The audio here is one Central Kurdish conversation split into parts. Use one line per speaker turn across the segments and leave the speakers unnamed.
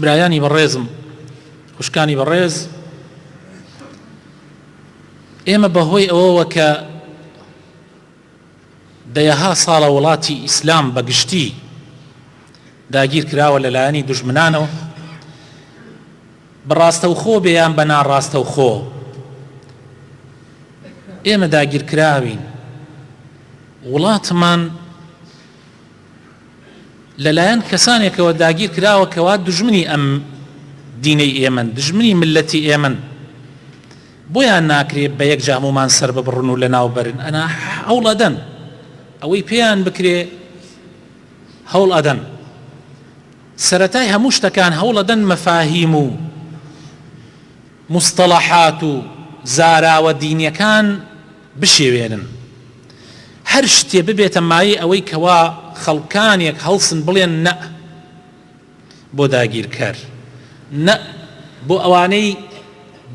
برایانی بەڕێزم خوشکانی بەڕێز ئێمە بەهۆی ئەوەوە کە دەیەها ساڵە وڵاتی ئیسلام بەگشتی داگیر کراوە لەلایەنی دژمنانەوە بەڕاستەوخۆ بێیان بە ناڕاستەوخۆ ئێمە داگیرکراوین وڵاتمان لەلایەن کەسانێکەوە داگیر کراوە کەوا دوژمنی ئەم دینەی ئێمەن دژمنی ملەتی ئێمەن بۆیان ناکرێ بە یەک جامومان سەر ببڕن و لەناو بەرن ئەنا هەوڵ ئەدەن ئەوەی پێیان بکرێ هەوڵ ئەدەن سەتای هەموو شتەکان هەوڵەدەن مەفاهیم و مستەڵەحات و زاراوە دینیەکان بشێوێنن هەر شتێ ببێتە مایەی ئەوەی کەوا خەڵکانێک هەڵسن بڵێن نە بۆ داگیرکەر نە بۆ ئەوانەی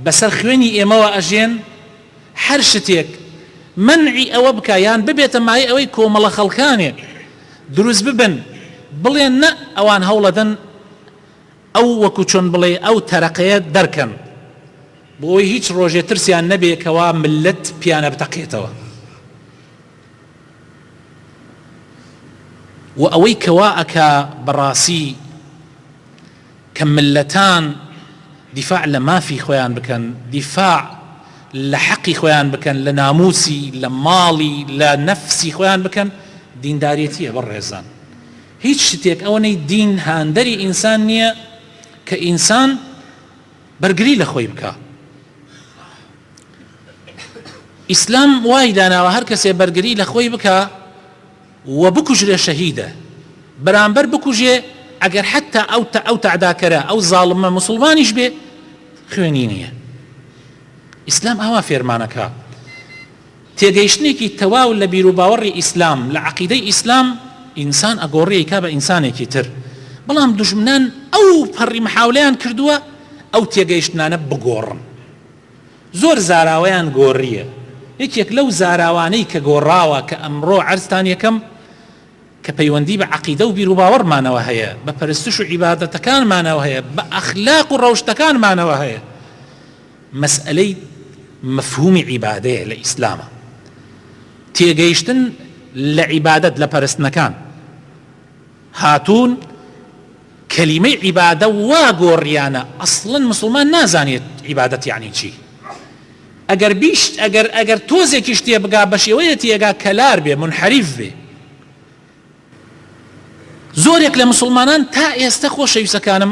بەسەر خوێنی ئێمەوە ئەژێن هەر شتێک منعی ئەوە بکە یان ببێتە مایەی ئەوەی کۆمەڵە خەڵکانێک دروست ببن بڵێن نە ئەوان هەوڵەدەن ئەو وەکو چۆن بڵێی ئەو تەرەقەیە دەرکەن بۆ ئەوەی هیچ ڕۆژێ ترسیان نەبێ کەوا ملت پیانە بتەقێتەوە و ئەوەی کەوا ئەکا بەڕاسی کە ملتان دیفاع لە مافی خۆیان بکەن دیفاع لە حەقی خۆیان بکەن لە ناموسی لە ماڵی لە نەفسی خۆیان بکەن دینداریەتیە بەڕێزان هیچ شتێک ئەوەنەی دین هاندەری ئینسان نیە کە ئینسان بەرگری لە خۆی بکا ئیسلام وای داناوە هەر کەسێ بەرگری لە خۆی بکا و بکوژرێ شەهیدە بەرامبەر بکوژێ ئەگەر حتا ئەو تا ئەو تاداکەرە ئەو زاڵمە مسلمانیش بێ خوێنی نییە ئیسلام ئاوا فێرمانەکە تێگەیشتنێکی تەواو لە بیروباوەڕی ئیسلام، لە عەقیدەی ئیسلام، ئینسان ئەگۆڕێ ئیکا بە ئینسانێکی تر، بەڵام دوژمنان ئەو پەڕی محاولەیان کردووە ئەو تێگەیشتنانە بگۆڕن. زۆر زاراوەیان گۆڕییە. یەکێک لەو زاراوانەی کە گۆڕاوە کە ئەمڕۆ عەرزتان یەکەم کە پەیوەندی بە عەقیدە و بیروباوەڕمانەوە هەیە، بە پەرستش و عیبادەتەکانمانەوە هەیە، بە ئەخلاق و ڕەوشتەکانمانەوە هەیە. مەسئەلەی مەفهومی عیبادەیە لە ئیسلامە تێگەیشتن لە عیبادەت لە پەرستنەکان هاتوون کەلیمەی عیبادە وا گۆڕیانە ئەسڵەن مسلمان نازانێت عیبادەت یعنی چی ئەگەر بیشت ئەگەر ئەگەر تۆزێکیش تێبگا بە شێوەیە تێگا کەلار بێ منحریف بێ زۆرێک لە مسلمانان تا ئێستا خۆشەویستەکانم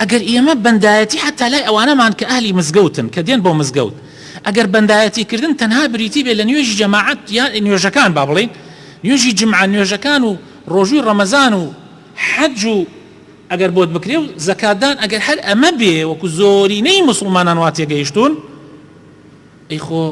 ئەگەر ئێمە بەندایەتی حەتتا لای ئەوانەمان کە ئەهلی مزگەوتن کە دێن بۆ مزگەوت ئەگەر بەندایەتی کردن تەنها بریتی بێت لە نوێژی جەماعەت یا نوێژەکان با بڵێین نوێژی جمعە نوێژەکان و ڕۆژووی ڕەمەزان و حەج و ئەگەر بۆت بکرێ و زەکاتدان ئەگەر هەر ئەمە بێ وەکو زۆرینەی موسڵمانان وا تێگەیشتوون ئەی خۆ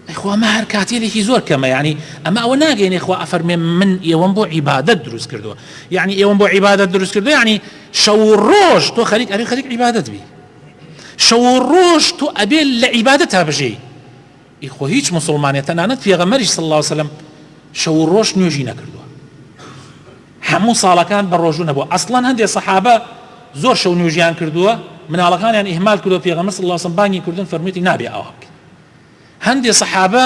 ئەی خۆ ئەمە هەر کاتێلێکی زۆر کەمە یعنی ئەمە ئەوە ناگەینێ خوا ئەفەرمێ من ئێوەم بۆ عیبادت دروست کردووە یعنی ئێوەم بۆ عیبادت دروست کردو یعنی شەو و ڕۆژ تۆ خەریک ئەری خەریک عیبادت بی شەو و ڕۆژ تۆ ئەبێ لە عیبادت تا بژێی ئی خۆ هیچ مسلمانێت تەنانەت پێغەمەریش صلی الله وسلم شەو و ڕۆژ نوێژی نەکردووە هەموو ساڵەکان بەڕۆژوو نەبووە ئەسڵەن هەندێ سەحابە زۆر شەو نوێژیان کردووە مناڵەکانیان ئیهمال کردووە پێغەمبەر صلی اللە علیە و سلم بانگی کردوون فەرموویەتی نابێ ئاوا بکەی هەندێ سەحابە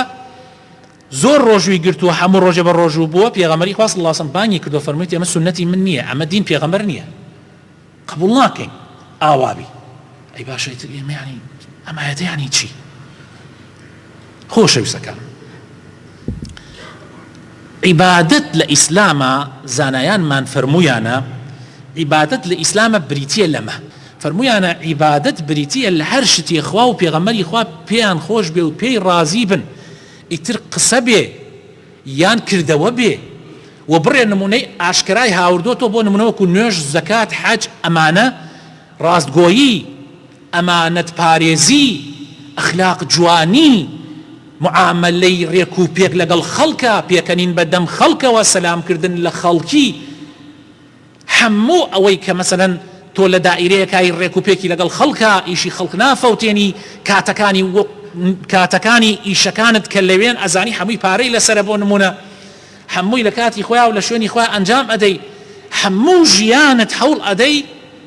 زۆر ڕۆژووی گرتووە هەموو ڕۆژێ بە ڕۆژوو بووە پێغەمبەری خوا صلی اللە علیە و سلم بانگی کردووە فەرموویەتی ئەمە سوننەتی من نییە ئەمە دین پێغەمبەر نییە قبوڵ ناکەین ئاوا بی. ئەی باشە ئیتر ئێمە یانی ئەم ئایەتە یانی چی؟ خۆشەویستەکان عیبادەت لە ئیسلامە زانایانمان فەرموویانە عیبادەت لە ئیسلامە بریتە لەمە فەرموویانە عیبادەت بریتە لە هەر شتێ خوا و پێغەمەری خوا پێیان خۆش بێ و پێی ڕازی بن ئیتر قسە بێ یان کردەوە بێ و بڕێ نمونەی ئاشکرای هاوردۆتەوە بۆ نمونە وەکو نوێژ زەکات حەج ئەمانە ڕاستگۆیی ئەمانەت پارێزی ئەخلاق جوانی معامەلەی ڕێک و پێک لەگەڵ خەڵکا پێکەنین بە دەم خەڵکەوە سەلام کردن لە خەڵکی هەموو ئەوەی کە مەسەلەن تۆ لە دائیرەیەکای ڕێک و پێکی لەگەڵ خەڵکە، ئیشی خەڵک نافەوتێنی، کاتەکانی وەک کاتەکانی ئیشەکانت کە لەوێن ئەزانی هەمووی پارەی لەسەرە بۆ نموونە هەمووی لە کاتی خۆیا و لە شوێنی خۆیا ئەنجام ئەدەی هەموو ژیانت هەوڵ ئەدەی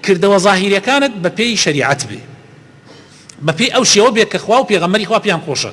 کردەوە زاهیریەکانت بە پێی شەریعەت بێ بە پێی ئەو شێوە بێ کە خوا و پێغەمبەری خوا پێیان خۆشە.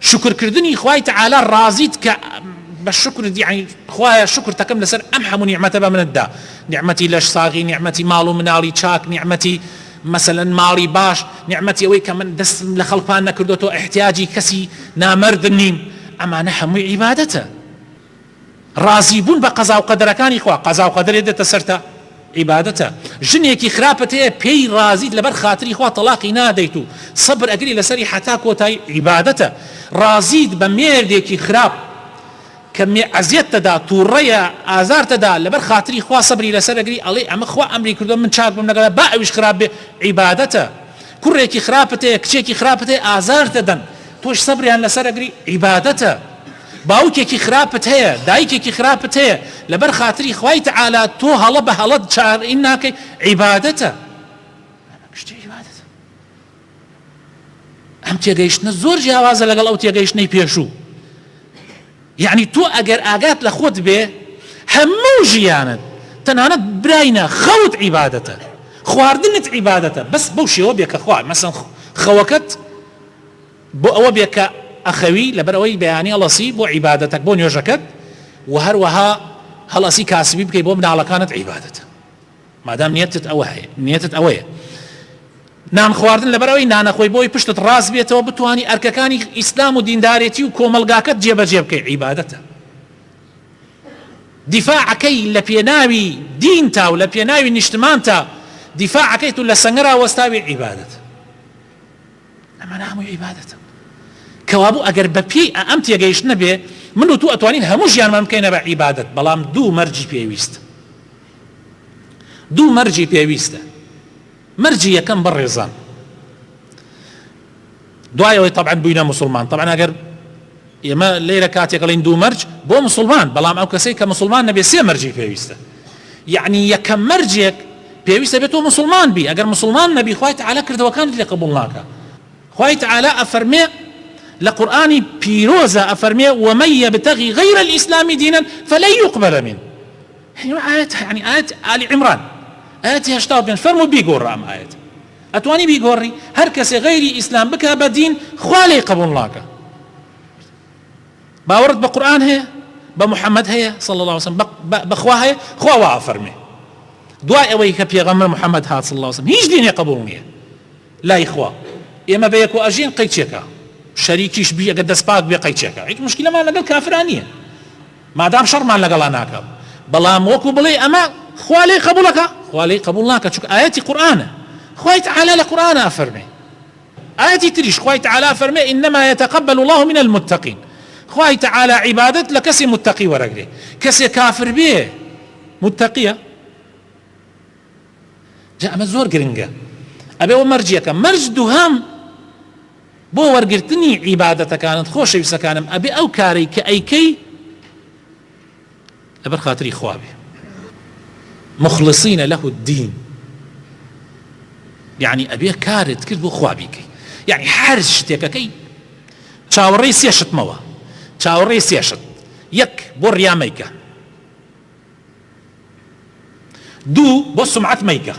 شوکر کردنی خوای تەعالا ڕازیت کە بە شوکرت یەعنی خوایە شوکرتەکەم لەسەر ئەم هەموو نیعمەتە بە منت دا نیعمەتی لەش ساغی نیعمەتی ماڵ و مناڵی چاک نیعمەتی مەسەلەن ماڵی باش نیعمەتی ئەوەی کە من دەستم لە خەڵکان نەکردۆتەوە ئیحتیاجی کەسی نامەردم نیم ئەمانە هەمووی عیبادەتە ڕازی بوون بە قەزا و قەدەرەکانی خوا، قەزا و قەدەرێ دێتە سەرتا عیبادەتە، ژنێکی خراپت هەیە پێی ڕازیت لەبەر خاتری خوا تەڵاقی نادەیت و سەبر ئەگری لەسەری حەتا کۆتایی عیبادەتە، ڕازیت بە مێردێکی خراپ کە ئەزیەتتەدا توڕەیە ئازارتەدا لەبەر خاتری خوا سەبری لەسەر ئەگری ئەڵێی ئەمە خوا ئەمری کردوە من چاک بم لەگەڵا با ئەویش خراپ بێ عیبادەتە، کوڕێکی خراپت هەیە کچێکی خراپت هەیە ئازارتدەدەن تۆش سەبریان لەسەر ئەگری عیبادەتە، باوکێکی خراپت هەیە دایکێکی خراپت هەیە لەبەر خاتری خوای تعالی تۆ هەڵە بە هەڵە چارئ ناکەی عیبادەتە ئەم شتە عیبادەتە ئەم تێگەیشتنە زۆر جیاوازە لەگەڵ ئەو تێگەیشتنەی پێشوو یعنی تۆ ئەگەر ئاگات لە خۆت بێ هەموو ژیانت تەنانەت براینە خەوت عیبادەتە خواردنت عیبادەتە بەس بەو شێوە بێ کە خوارد مەسەن خەوەکەت بۆ ئەوە بێ کە ئەخەوی لەبەر ئەوەی بەیانی هەڵەسی بۆ عیبادەتەک بۆ نوێژەکەت وە هەروەها هەڵەسی کاسبی بکەی بۆ مناڵەکانت عیبادەتە مادام نیەتت ئەوە هەیە نیەتت ئەوەیە نان خواردن لەبەر ئەوەی نانەخۆی بۆی پشتت ڕاست بێتەوە بتانی ئەرکەکانی ئیسلام و دیندارێتی و کۆمەلگاکەت جێبەجێ بکەی عیبادەتە دیفاعەکەی لە پێناوی دین تا و لە پێناوی نیشتمان تا دیفاعەکەی تو لە سەنگەرا وەستاوی عیبادەت ئەمانە هەمووی عیبادەتن. کەوابوو ئەگەر بە پێی ئە ئەم تێگەیشتنە بێ من و تو ئەتوانین هەموو ژیانمان بکەینە بە عیبادەت بەڵام دوو مەرجی پێویست دوو مەرجی پێویستە مەرجی یەکەم بەڕێزان دوایەوەی طبعا بووینە مسلمان طبعا ئەگەر ئێمە لێرە کاتێک ئەڵێین دوو مەرج بۆ موسڵمان، بەڵام ئەو کەسەی کە موسڵمان نەبێت سێ مەرجی پێویستە. یەعنی یەکەم مەرجێک پێویستە بێت تۆ موسڵمان بی، ئەگەر موسڵمان نەبی خوای تەعالا کردەوەکانت لێ قبوڵ ناکا. خوای تەعالا ئەفەرمێ لە قورئانی پیرۆزا ئەفەرمێ ومن یبتغی غیر الاسلام دینا فلن یقبل منه یعنی ئایەت یعنی ئایەت ئالی عمران ئایەتی هەشتا و پێنج فەرموو بیگۆڕە ئەم ئایەتە. ئەتوانی بیگۆڕی هەرکەسێ غەیری ئیسلام بکا بە دین خوا لێی قبوڵ ناکا باوەڕت بە قورئان هەیە بە محمد هەیە صلی اللە وسلم بە خوا هەیە خوا وا ئەفەرمێ دوای ئەوەی کە پێغەمبەر محمد هات صلی اللە وسلم هیچ دینێ قبوڵ نییە لای خوا ئێمە بە یەکۆ ئەژین قەیچێکە شەریکیش بی ئەگەر دەست پاک بێ قەیچێکە هیچ مشکلەمان لەگەڵ کافران نییە مادام شەڕمان لەگەڵا ناکا بەڵام وەکو بڵێی ئەمە خوا لێی قەبوڵەکا خوا لێی قەبوڵ ناکا چونکە ئایەتی قورئانە خوای تعالی لە قورئانا ئەفەرمێ ئایەتی تریش خوای تعالی ئەفەرمێ انما يتقبل الله من المتقین خوای تعالی عیبادەت لە کەسی متقی وەرەگرێ کەسێ کافر بێ متقیە جا ئەمە زۆر گرنگە ئەبێ وە مەرج یەکەم مەرج دووهەم بۆ وەرگرتنی عیبادەتەکانت خۆشەویستەکانم ئەبێ ئەو کارەی کە ئەیکەی لەبەر خاتری خواابێ مخلصینە لەه الدین یعنی ئەبێ کارت کرد بۆ خوابیکەی یعنی هەر شتێکەکەی چاوەڕێی سێشتمەوە چاوەڕێی سێشت یەک بۆ ڕیامەیکە دوو بۆ سومعەت مەیکە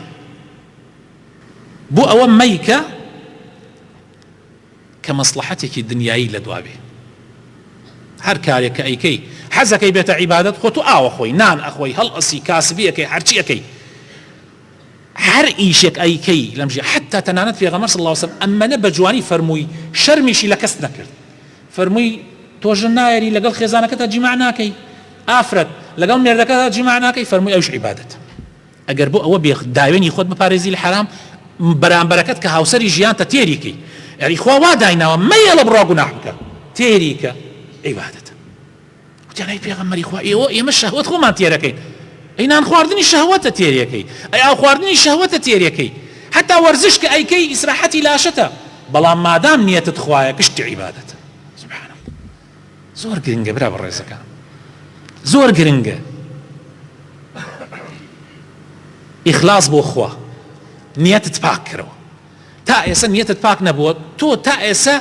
بۆ ئەوە مەیکە کە مەسلحەتێکی دنیایی لە دواوێ هەر کارێک کە ئەیکەی حەزەکەی بێتە عیبادەت خۆ تو ئاوە خۆی نان ئەخۆی هەڵ ئەسی کاسبیەکەی هەرچیەکەی هەر ئیشێک ئەیکەی لەم ژیانە حەتتا تەنانەت پێغەمبەر صلی اللە علیە و سلم ئەمەنە بە جوانی فەرمووی شەرمیشی لە کەس نەکرد فەرمووی تۆ ژن نایەری لەگەڵ خێزانەکەتا جیما ناکەی ئافرەت لەگەڵ مێردەکەتا جیما ناکەی فەرمووی ئەوش عیبادەتە ئەگەر بۆ ئەوە بێ داوێنی خۆت بپارێزی لە حەرام بەرامبەرەکەت کە هاوسەری ژیانتە تێری کەی یعنی خوا وا دایناوە مەیەڵە بڕوا گوناح بکە تێری کە عیبادەتە وتیان ئەی پێغەمبەری خوا ئێوە ئێمە شەهوەت خۆمان تێرەکەین ئەی نان خواردنی شەهوەتە تێرێکەی ئەی ئاو خواردنی شەهوەتە تێرێکەی حتا وەرزش کە ئەیکەی ئیسراحەتی لاشەتە بەڵام مادام نیەتت خوایە گشتی عیبادەتە سبحان الله زۆر گرنگە برا بەڕێزەکان زۆر گرنگە ئیخلاص بۆ خوا نیەتت پاک کرەوە تا ئێستا نیەتت پاک نەبووە تۆ تا ئێستا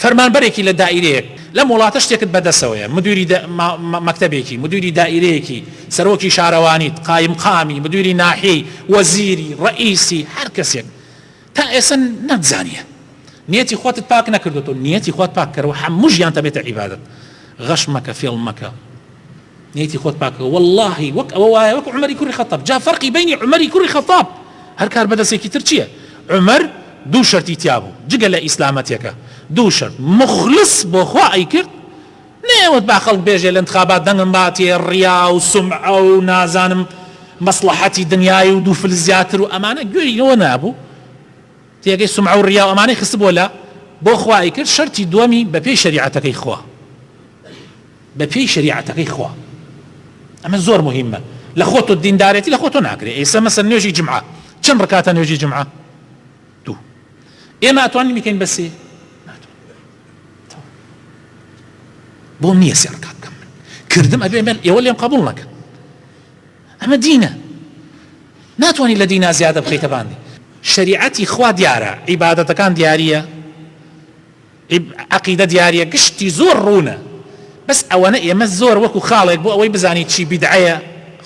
فەرمانبەرێکی لە دائیرەیەک لەم وڵاتە شتێکت بە دەسەوەیە، مدیری مەکتەبێکی، مدیری دائیرەیەکی، سەرۆکی شارەوانیت، قایمقامی، مدیری ناحیەی، وەزیری، ڕەئیسی، هەر کەسێک تا ئێستا نەتزانیە نیەتی خۆتت پاک نەکردۆتەوە، نیەتی خۆت پاک کەرەوە هەموو ژیانت ئەبێتە عیبادەت، غەش مەکە فێڵ مەکە. نیتی خۆت پاکەکە وەڵاهی وەک ئەوە وایە وەک عومەری کوڕی خەتاب جا فەرقی بەینی عومەری کوڕی خەتاب هەر کاربەدەسێکی تر چیە عومەر دوو شەرتی تیابوو جگە لە ئیسلامەتێکە دوو شەرت موخلس بۆ خوا ئەیکرد نەیەوت با خەڵک بێژێ لە انتخابات دەنگم باتێ ڕیا و سومعە و نازانم مەسڵەحەتی دنیای و دوو فلس زیاتر و ئەمانە گوێی لۆ نابوو تێگەی سومعە و ڕیا و ئەمانەی خستبووە لە بۆ خوا ئەیکرد شەرتی دووەمی بەپێی شەریعەتەکەی خوا بە پێی شەریعەتەکەی خوا ئەمە زۆر موهیمە لە خۆ تۆ دیندارێتی لە خۆ تۆ ناکرێ ئێسە مەسە نوێژی جمعە چەند ڕکاتە نوێژی جمعە دوو ئێمە ئەتوانین بکەین بەسێ بۆم نییە سێ ڕکات بکەم من کردم ئەبێ من ئێوە لێم قبول نەکەن ئەمە دینە ناتوانانی لە دینا زیادە بخیتە باندی شریعەتی خوا دیارە عیباەتەکان دیارە ی عەقیدە دیاریە گشتی زۆر ڕوونە بەس ئەوەنە ئێمە زۆر وەکو خاڵێک بۆ ئەوەی بزانیت چی بیدعەیە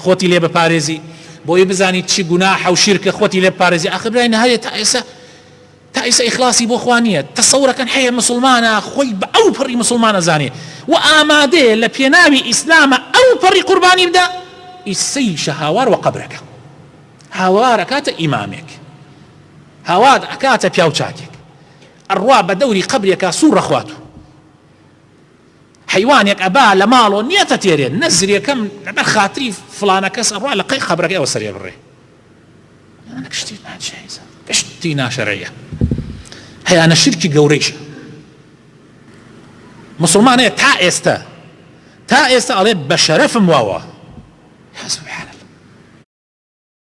خۆتی لێ بپارێزی بۆ ئەوەی بزانیت چی گوناحە و شیرکە خۆتی لێ بپارێزی ئاخر برای نەهەیە تا ئێسە تا ئیسە ئیخلاسی بۆ خوا نیە تەسەورەکەن حەیە مسوڵمانە خۆی بە ئەو پەڕی مسوڵمان ئەزانێ و ئامادەیە لە پێناوی ئیسلامە ئەو پەڕی قوربانی بدا ئیسەیشە هاوار وە قەبرەکە هاوار ئەکاتە ئیمامێک هاوار ئەکاتە پیاو چاکێک ئەڕوا بە دەوری قەبرێکا سوڕ ئەخوات و حەیوانێک ئەبا لە ماڵۆ نیەتە تێرێ نە زرێکەم لەبەر خاتری فڵانە کەس ئەڕوا لە قەی قەبرەکەی ئەوە سەرێ بڕێ شتی ناجێزە شتی ناشەرەیە هەیانە شرکی گەورەیشە مسلمانەیە تا ئێستا تا ئێستا ئەڵێ بە شەرەفم واوە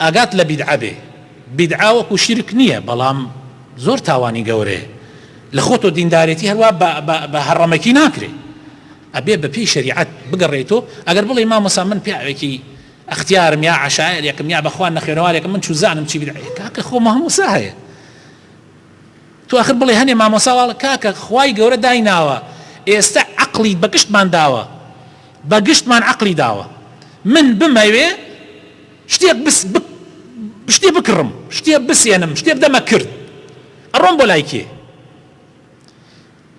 ئاگات لە بیدعە بێ بیدعە وەکو شیرک نیە بەڵام زۆر تاوانی گەورەیە لە خۆ تۆ دیندارێتی هەروا بە بە بە هەڕەمەکی ناکرێ ئەبێ بە پێی شەریعەت بگەڕێیتۆ ئەگەر بڵێ مامۆسا من پیاوێکی ئەختیارم یا عشایەرێکم یا بەخوا نەخوێنەوارێکم من چوزانم چی بدعەیە کاکە خۆ مامۆسا هەیە تو آخر بڵێ هەنێ مامۆسا واڵ کاکە خوای گەورە دایناوە ئێستا عقلی بەگشتمان داوە بەگشتمان عقلی داوە من بمەوێ شتێک بس بک شتێ بکڕم شتێ بسێنم شتێ بدەمە کرد ئەڕۆم بۆ لای کێ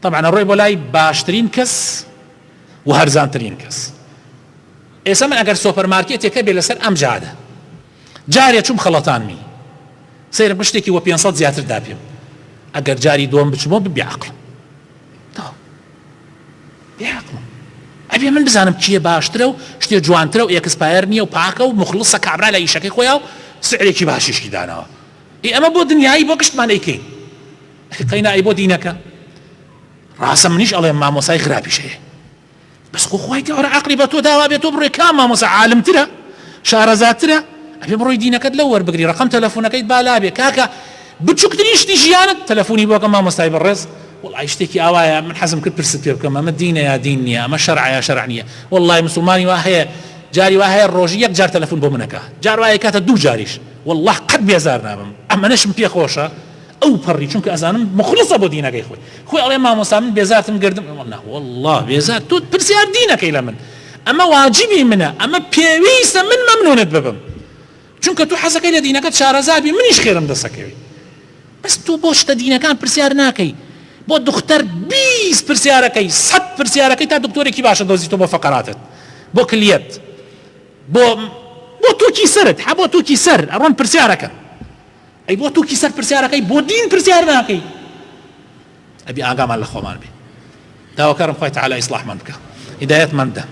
طبعا ئەڕۆی بۆ لای باشترین کەس و هەرزانترین کەس ئێستا من ئەگەر سۆپەرمارکێتێکە بێ لەسەر ئەم جادە جارێ چوم خەڵەتانمی سەیرە بشتێکی وە 500 زیاتر داپێم ئەگەر جاری دۆم بچمەوە ببیعقل بێ عەقڵە ئەبێ من بزانم چیە باشترە و شتێ جوانترە و ئێکسپایەر نییە و پاکە و موخڵصە کابرا لە ئیشەکەی خۆیا و سعرێکی باشیشی داناوە ئی ئەمە بۆ دنیایی بۆ گشتمان ئەیکەین ئەخی قەینا ئەی بۆ دینەکە ڕاستە منیش ئەڵێم مامۆسای خراپیش هەیە بەس خۆ خوای گەورە عەقڵی بە تۆ داوا بێت تۆ بڕۆی کا مامۆسا عالمترە شارەزاترە ئەبێ بڕۆی دینەکەت لەو وەربگری ڕەقەم تەلەفۆنەکەیت با لابێ کاکە بچوکترین شتی ژیانت تەلەفونی بۆ کە مامۆستای بەڕێز وەڵای شتێکی ئاوایە من حەزم کرد پرست پێ بکەم ئەمە دینە یا دین نیە ئەمە شەرعە یا شەرع نیە وەڵای مسوڵمانی وا هەیە جاری وا هەیە ڕۆژی یەک جار تەلەفون بۆ من ئەکا جار وا ئەکاتە دوو جاریش وەڵا قەت بێزار نابم ئەمەنەشم پێ خۆشە ئەو پەڕی چونکە ئەزانم مخڵصە بۆ دینەکەی خۆی خۆی ئەڵێ مامۆستا من بێزارتم گردم وەڵا وەڵا بێزار تۆ پرسیار دینەکەی لە من ئەمە واجبی منە ئەمە پێویستە من مەمنونت ببم چونکە تۆ حەزەکەی لە دینەکەت شارەزا بی منیش خێرم دەسەکەوێ بەس تۆ بۆ شتە دینەکان پرسیار ناکەی بۆ دختەر بیست پرسیارەکەی سەد پرسیارەکەی تا دکتۆرێکی باشە دۆزی تۆ بۆ فەقەراتت بۆ کلیەت بۆ بۆ تووکی سەرت هە بۆ تووکی سەر ئەڕۆن پرسیارەکە ئەی بۆ تووکی سەر پرسیارەکەی بۆ دین پرسیار ناکەی ئەبی ئاگامان لە خۆمان بێ داواکارم خوای تەعالا ئیسڵاحمان بکا هیدایەتمان بدە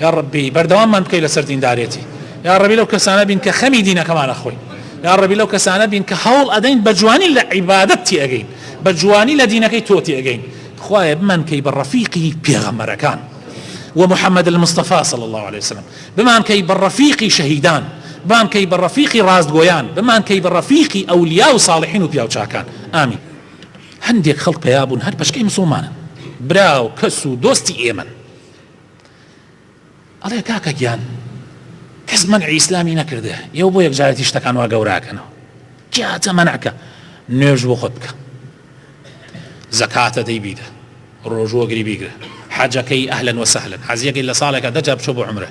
یا ڕەبی بەردەواممان بکەی لەسەر دیندارێتی یا ڕەبی لەو کەسانە بین کە خەمی دینەکەمانە خۆی یا ڕەبی لەو کەسانە بین کە هەوڵ ئەدەین بە جوانی لە عیبادەت تێگەین بە جوانی لە دینەکەی تۆ تێگەین خوایە بمان کەی بە ڕەفیقی پێغەمەرەکان و محمد المستەفا صلی الله عليه وسلم بمان کەی بە ڕەفیقی شەهیدان بمان کەی بە ڕەفیقی ڕاستگۆیان بمان کەی بە ڕەفیقی ئەولیا و ساڵحین و پیاوچاکان ئامین هەندێک خەڵک پەیا بوون هەر پەشکەی مسوڵمانن براو کەس و دۆستی ئێمەن ئەڵێ کاکە گیان کەس منعی ئیسلامی نەکردێ ئێوە بۆ یەکجارەتی شتەکان وا گەوراکەنەوە جاتە مەنعکە نوێژ بۆ خۆت بکە زەکاتە دەی بیدە ڕۆژوەگری بیگرە حەجەکەی ئەهلەن وە سەهلن حەزیەکەی لە ساڵێکە دەجا بچۆ بۆ عمرە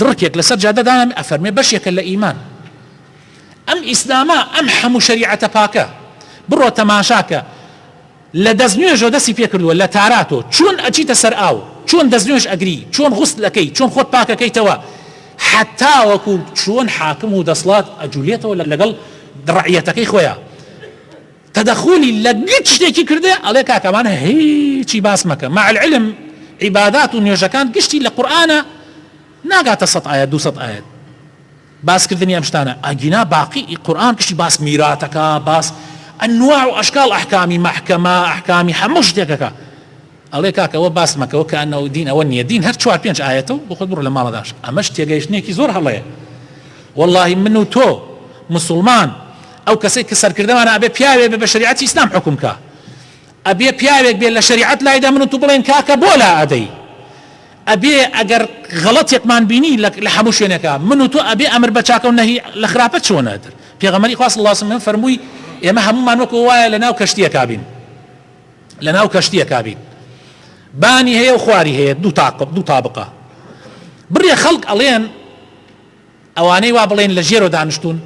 دڕکێک لەسەر جادە دانەنێ ئەفەرمێ بەشێکە لە ئیمان ئەم ئیسلامە ئەم حەموو شەریعەتە پاکە بڕۆ تەماشاکە لە دەست نوێژۆ دەستی پێکردووە لە تاراتۆ چۆن ئەچیتە سەر ئاو چۆن دەست نوێژ ئەگری چۆن غوست لەکەی چۆن خۆت پاکەکەیتەوە حتاوەکو چۆن حاکم و دەسڵات ئەجولێتەوە لەگەڵ ڕعەتەکەی خۆیان تەدەخولی لە گچ شتێکی کردێ ئەڵێ کاکە ئەمان هیچی باس مەکە مع العلم عیبادات و نوێژەکان گشتی لە قورئانە ناگاتە سەد ئایەت دوو سەد ئایەت باس کردنی ئەم شتانە ئەگینا باقی ئی قورئان گشتی باس میراتەکە باس انواع و اشکال احکامی محکمە احکامی هەموو شتێکەکە ئەڵێ کاکە ئەوە باس مەکەوە کەئەنەوە دین ئەوە نیە دین هەر چوار پێنج ئایەتە و بۆخۆت بڕۆ لەماڵە دانیشە ئەمەش تێگەیشتنێکی زۆر هەڵەیە وەڵاهی من و تۆ مسوڵمان ئەو کەسەی کە سەرکردەمانە ئەبێ پیاوێ بێ بە شەریعەتی ئیسلام حوکم کا ئەبێ پیاوێک بێ لە شەریعەت لایدا من و تو بڵێن کاکە بۆ لا ئەدەی ئەبێ ئەگەر غەڵەتێکمان بینی لە هەموو شوێنەکە من و تۆ ئەبێ ئەمر بە چاکە و نەهی لە خراپە چۆنە در پێغەمبەری خوا صلی اللە علیه و سلم فەرمووی ئێمە هەموومان وەکو وایە لەناو کەشتیەکا بین لەناو کەشتیەکا بیت بانی هەیە و خواری هەیە دوو تاقب دوو تابقە بڕێ خەڵک ئەڵێن ئەوانەی وا بڵێن لە ژێرۆ دانیشتون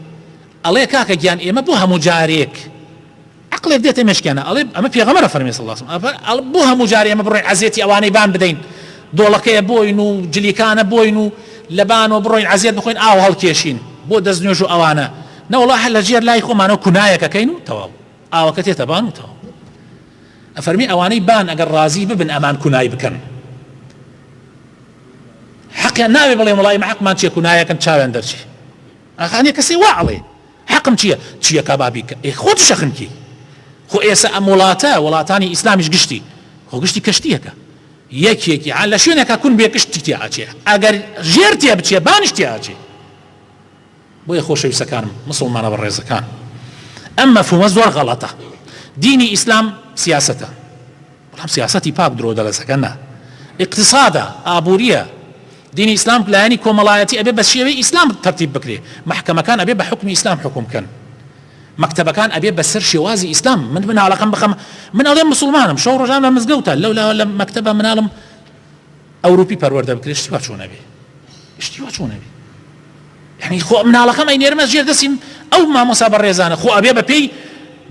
ئەڵێ کاکە گیان ئێمە بۆ هەموو جارێک عقلێک دێتە مشکێنە ئەڵێ ئەمە پێغەمەرە فەرمی سڵاسم بۆ هەموو جارێ ئەمە بڕێ عزیێتی ئەوانەی بان بدەین دۆڵەکەیە بۆین و جلیکانە بۆین و لەبان و بڕۆین عزیێت بخۆین ئاو هەڵکێشین بۆ دەست نوێژ و ئەوانە نەوەڵا هەر لە ژێر لای خۆمانەوە کونایەکەکەین و تەواو ئاوەکە تێتە بان و تەواو. ئەفەرمی ئەوانەی بان ئەگەر ڕازی ببن ئەمان کونای بکەن حەقیان ناوێ بڵێ وڵی مەحقمان چیە کونایەکەن چاوێن دەرچی ئەخانێ کەسی وا ئەڵێ حەقم چییە چییە کا بابیکە ئێ خۆت شەخنکی خۆ ئێسە ئەم وڵاتە وڵاتانی ئیسلامیش گشتی خۆ گشتی کەشتیەکە یەکێکی عال لە شوێنەکە کون بێ کشتی تیاچێ ئەگەر ژێر تێ بچێ بانیش تیاچێ بۆیە خۆشەویستەکانم موسڵمانە بەڕێزەکان ئەم مەفهومە زۆر غەڵەتە دینی ئیسلام سیاسەتە بەڵام سیاسەتی پاک درۆ دەلەسەکە نا اقتصادە ئابووریە دینی ئیسلام لایەنی کۆمەڵایەتی ئەبێ بە شێوەی ئیسلام تەرتیب بکرێ محکەمەکان ئەبێ بە حکمی ئیسلام حکوم بکەن مەکتەبەکان ئەبێ بەسەر شێوازی ئیسلام من مناڵەکەم بخەم من ئەڵێ مسلمانم شەو ڕۆژان لە مزگەوتە لەو لە مەکتەبە مناڵم ئەوروپی پەروەردە بکرێت شتی وا چۆن ئەبێ شتی وا چۆن ئەبێ یعنی خۆ مناڵەکەم ئەینێرمە ژێر دەسیم ئەو مامۆسا بەڕێزانە خۆ ئەبێ بەپێی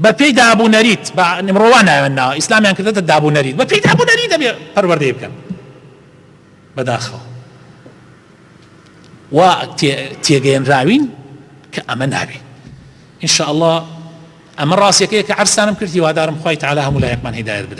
بەپێی دابوو نەریت بە نمڕۆوا ناوێن ناوە ئیسلامیان کردێتە دابوو نەریت بەپێی دابوو نەری دەبێ پەروەردەی بکەن بەداخەوە وا تێگەێنراوین کە ئەمە نابێ انشاء الله ئەمە ڕاستەکەی کە عرسانم کردی وادارم خی تعالا هەموو لایەکمان هیدایت بدە